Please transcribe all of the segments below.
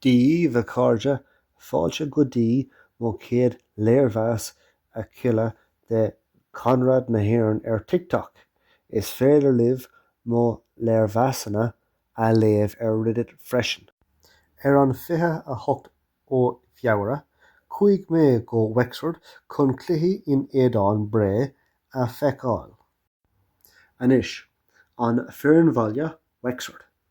Dhíbh, a chairde, fáilte go dtí mo chéad léirmheas a chluiche de Conradh na hÉireann ar TikTok. Is féidir libh mo léirmheasanna a léamh ar Reddit freisin. Ar an 28ú Feabhra, chuaigh mé go Wexford chun cluiche in éadán Bré a feiceáil. Anois, an foireann bhaile Wexford.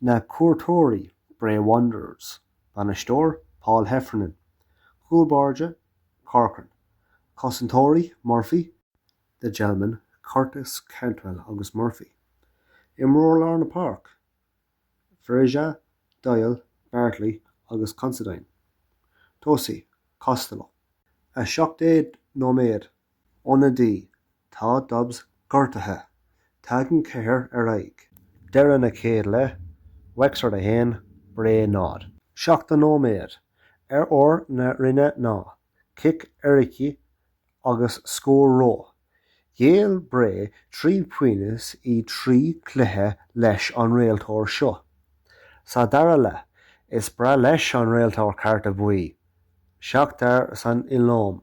Na cuairteoirí, Bray Wanderers. Bainisteoir, Paul Heffernan. Cúl báire, Corcoran. Cosantóirí, Murphy, The Gelman, Curtis, Cantwell agus Murphy. Imreoir lár na páirc, Ferreira, Doyle, Bartley agus Considine. Tosaí, Costello. 17 nóiméad ionadaí, tá Dobbs gortaithe. Tagann Keher ar aghaidh. Deireadh na chéad leith, Wexford 1, Bré 0. Seachtó nóiméad, ar ór na Rinne ná cic éirice agus scór Rowe. Ghéill Bré trí pionós i dtrí cluiche leis an réiteoir seo. Sa dara leath, is breá leis an réiteoir cárta buí, seachtar san iomlán.